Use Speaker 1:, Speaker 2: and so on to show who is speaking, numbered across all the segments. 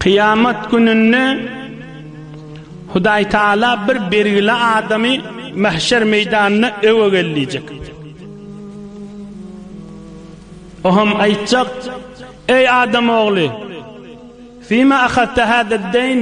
Speaker 1: Kyýamat gününde Hudaý Taala bir belgili adamy mahşer meýdanyna öwe gel diýjek. O hem aýtjak: Eý adam ogly, fima ahatta hada deyn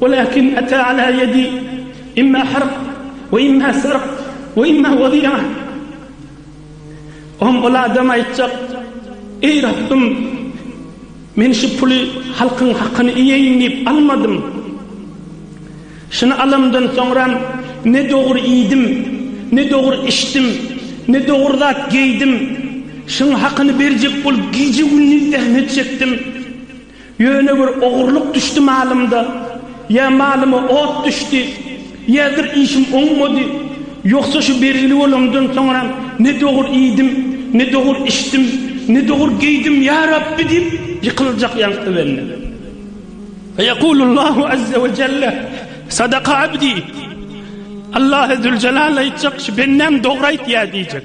Speaker 1: Walakin ata ala yedi imma harq we imma sarq we imma wadia. Oňa ol adam aýtjak, Eý Rabbym, men şu puly halkyň hakyny iýeýin diýip almadym. Şuny alamdan soňram ne dogry iýdim, ne dogry içdim, ne dogry zat geýdim. Şuň hakyny berjek bolup gije-gündiz zähmet çekdim. Ýöne bir ogurlyk düşdi malymda, ýa malyma ot düşdi, ýadyr işim oňmady. Ýogsa şu belgili bolandan soňram ne dogur iýdim, ne dogur içdim, ne dogur geýdim, ýa Rabbi diýip ýykyljak ýaňky bende. Feýekulullahu azze we jelle, Sadaka abdi, Allahy züljelal aýtjak, şu bendäm dogry aýtýar diýjek.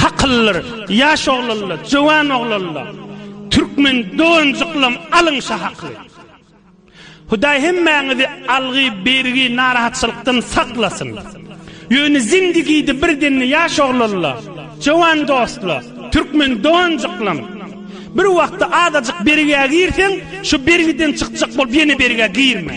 Speaker 1: Hakyllar, ýaş oglanlar, jöwan oglanlar, türkmen doganjyklam alyň şa hakly. Hudaý hemmäňizi algy, bergi, narahatçylykdan saklasyn. Ýöne zindigide bir demde ýaş oglanlar, jöwan dostlar, türkmen doganjyklam, bir wagtda azajyk bergä girseň, şu bergiden çykjak bolup ýene bergä girme.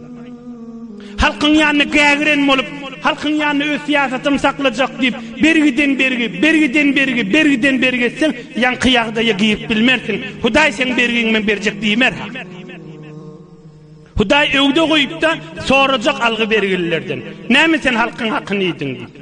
Speaker 1: Halkyň ýanyna gägiren bolup, halkyň ýanyna öz syýasatym saklajak diýip, bergiden bergi, bergiden bergi, bergiden bergi etseň, ýaňky ýagdaýa girip bilmersiň. Hudaý seň bergiňi men berjek diýmer-ha. Hudaý öwde goýup-da, sorajak algy-bergililerden, Näme sen halkyň hakyny iýdiň? diýip.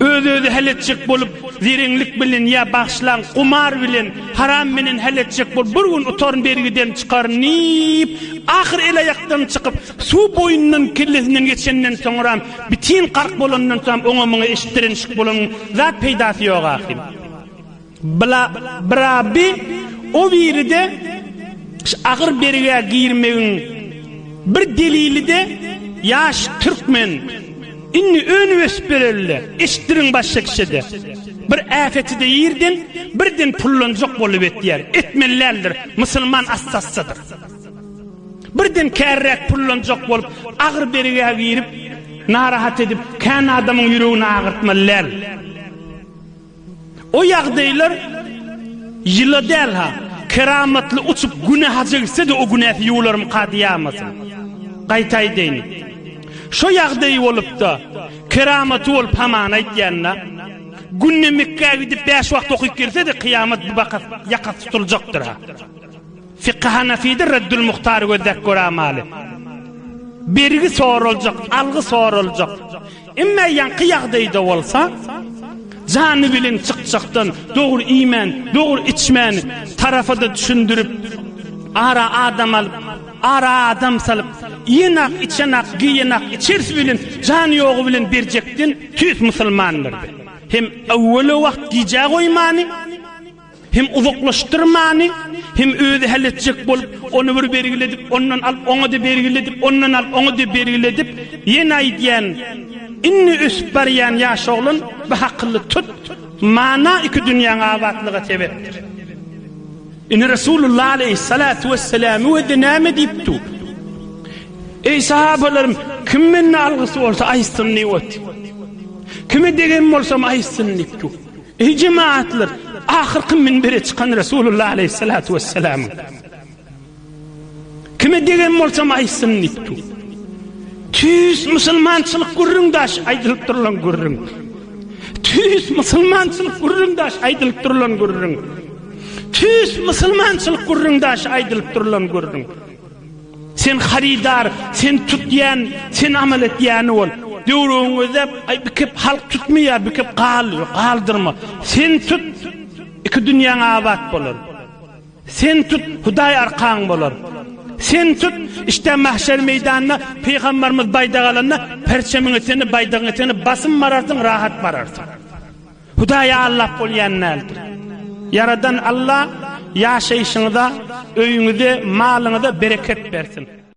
Speaker 1: Öz-özi hal etjek bolup, zireňlik bilen ýa bagşylaň gumar bilen, haram bilen hal etjek bolup, bir gün utaryn, bergiden çykaryn diýip, ahyr el-aýakdan çykyp, suw boýundan kellesinden geçenden soňram, bitin gark bolandan soňam oňa-muňa eşitdirenişik bolan zat peýdasy ýok ahyryn. Bla bra bi o biride ş agyr bergä girmegiň bir delilide ýaş türkmen indi önüp ösüp berelide eşitdiriň başga kişede bir äpetide ýerden birden pullanjak bolup etýär etmeli däldir musulman assassadyr birden kärräk pullanjak bolup agyr bergä girip narahat edip kän adamyň ýüregini agyrtmaly däl. O ýagdaýlar ýyla däl-ha, keramatly uçup Güne haja gitse-de o günäsi ýuwularmyka diýýämasyn. Gaýta aýdaýyn. Şo ýagdaýy bolup-da, keramaty bolup hamana aýtýan-da. Günde Mekgä gidip bäş wagt okyp gelse-de kyýamat bu bakas ýakasy tutuljakdyr-ha. Fiky Hanafide Reddül Muhtary gözläp göramaly. Bergi soraljak, algy soraljak. Emme ýaňky ýagdaýda bolsa, jany bilen çykjakdan, dogry iýmän, dogry içmän, tarafada düşündirip, ara adam alyp, ara adam salyp, iýenak, içenak, geýenak, içersi bilen, jany ýogy bilen berjekden tüýs musulmandyr. Hem öwweli wagt gijä goýmany, Hem uzaklaşdyrmany, hem özi hal etjek bolup, ony bir bergiledip, ondan alyp, oňa-da bergiledip, ondan alyp, oňa-da bergiledip, ýene aýdýan, Indi ösüp barýan ýaş oglan, bu hakyly tut, mana iki dünýäň abatlyga sebäpdir. Indi Resulullah aleýhissalatu wesselam özi näme diýip dur? Eý sahabalarym, kim menden algysy bolsa aýtsyn diýip otyr. Kime degen bolsam aýtsyn diýip dur. Eý jemagatlar! Ahyrky minbere çykan Resulullah aleýhissalatu wessalamyň, Kime degen bolsam aýtsyn diýipdi. Tüýs musulmançylyk gürrüň daş aýdylyp durulan gürrüň. Tüýs musulmançylyk gürrüň daş aýdylyp durulan gürrüň. Tüýs musulmançylyk gürrüň daş aýdylyp durulan gürrüň. Sen harydar, sen tutýan, sen amal etýäni bol. Döwrüňizde bir kep halk tutmaýar, bir kep gal, galdyrma. Sen tut, iki dünýäň abat bolar. Sen tut, Hudaý arkaň bolar. Sen tut, işdä mahşer meýdanyna Pygambarymyz baýdak alanda, perçemiň etegini, baýdagyň etegini basym bararsyň, rahat bararsyň. Hudaýy aldap bolýan däldir. Ýaradan Alla ýaşaýşyňyza, öýüňize, malyňyza bereket bersin.